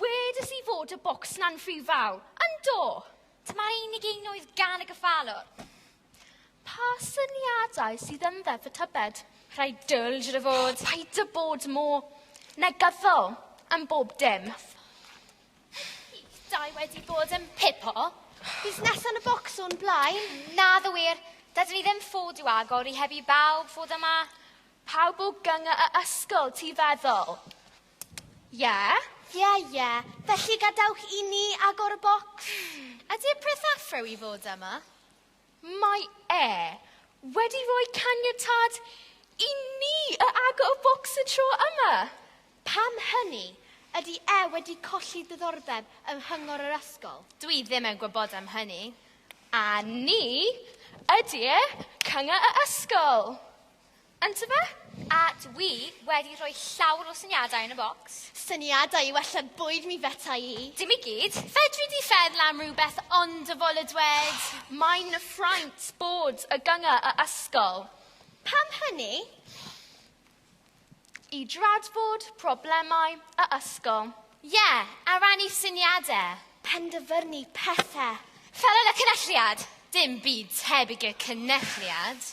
Wedes i fod y bocs na'n rhy fawr, yn do? Dyma unig un oedd gan y gyffalwr. Pa syniadau sydd yn ddeddf y tybed? Rhai dyl, siwr o fod. Oh, paid â bod mor negyddol yn bob dim. Dau wedi bod yn pipo. Busnes yn y bocs o'n blaen. Na, ddo wir. Dydyn ni ddim ffod i'w agor i heb i bawb fod yma. Pawb o gynga y ysgol, ti feddwl? Ie? Ie, ie. Felly gadewch i ni agor y bocs. Ydi'r peth affrew i fod yma? Mae e wedi rhoi caniatâd i ni y agor y bocs y tro yma. Pam hynny? Ydi e wedi colli diddordeb yng nghyngor yr ysgol? Dw i ddim yn gwybod am hynny. A ni ydi'r cynga y ysgol. Ynte fe? A dw i wedi rhoi llawr o syniadau yn y bocs. Syniadau i wella bwyd mi feta i. Dim i gyd. Fedri di feddwl am rhywbeth ond y fol y dwed? Mae'n na ffraint bod y gynga y ysgol. Pam hynny? I dradfod problemau y ysgol. Ie, a rannu syniadau. Penderfynu pethe. Fel yn y cynelliad. Dim byd tebyg i'r cynelliad.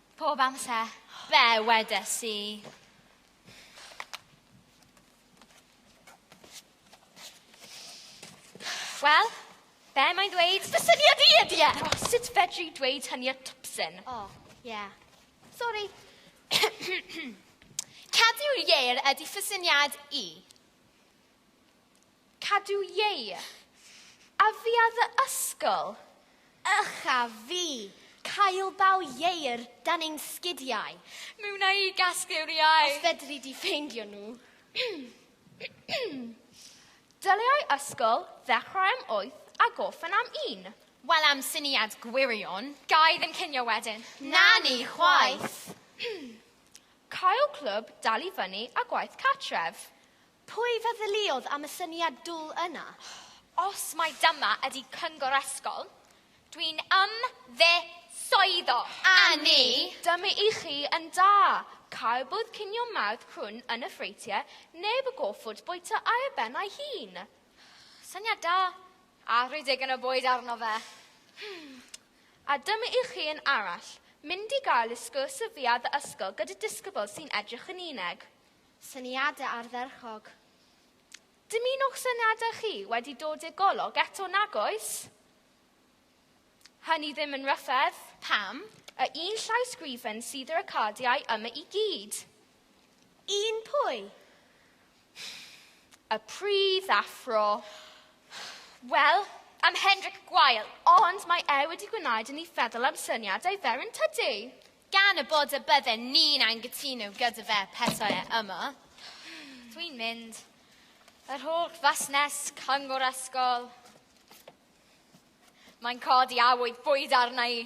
Pob amser. Fe wedes i. Wel, be mae'n dweud? Dy syniad i ydi e! Oh, sut fedri dweud hynny y twpsyn? O, oh, ie. Yeah. Sori. Cadw'r ieir ydi fy syniad i. Cadw iei. A fi a dy ysgol. Ych a fi. Cael baw ieir dan ein sgidiau. Mi wna i gasglu'r iau. Os fedri di ffeindio nhw. Dylai ysgol ddechrau am wyth a gorffen am un. Wel am syniad gwirion. Ga i ddim cinio wedyn. Na ni chwaith. Cael clwb dal i fyny a gwaith cartref. Pwy feddyliod am y syniad dwl yna? Os mai dyma ydi cyngor ysgol, dwi'n ymddiswyddo! Annie! Dyma i chi yn da! Cael bwyd cinio mawrth crwn yn y ffreutie, neu fy goffwrdd bwyta ar y ben a'i hun. Syniad da! A rhoi digon o bwyd arno fe! Hmm. A dyma i chi un arall, mynd i gael y sgwrs y fuarth ysgol gyda disgybl sy'n edrych yn uneg. Syniadau ardderchog. Dymunwch syniadau chi wedi dod i'r golwg eto nag oes? Hynny ddim yn ryfedd. Pam y un llawsgrifen sydd ar y cardiau yma i gyd? Un pwy? Y pridd athro. Wel, am Hendrik Gwael, ond mae e wedi gwneud i ni feddwl am syniadau fer yn tydi? Gan y bod y bydden ni'n anghytuno gyda fe petai e yma, dwi'n mynd. Yr holl fusnes, cyngor ysgol, mae'n codi awydd bwyd arna i.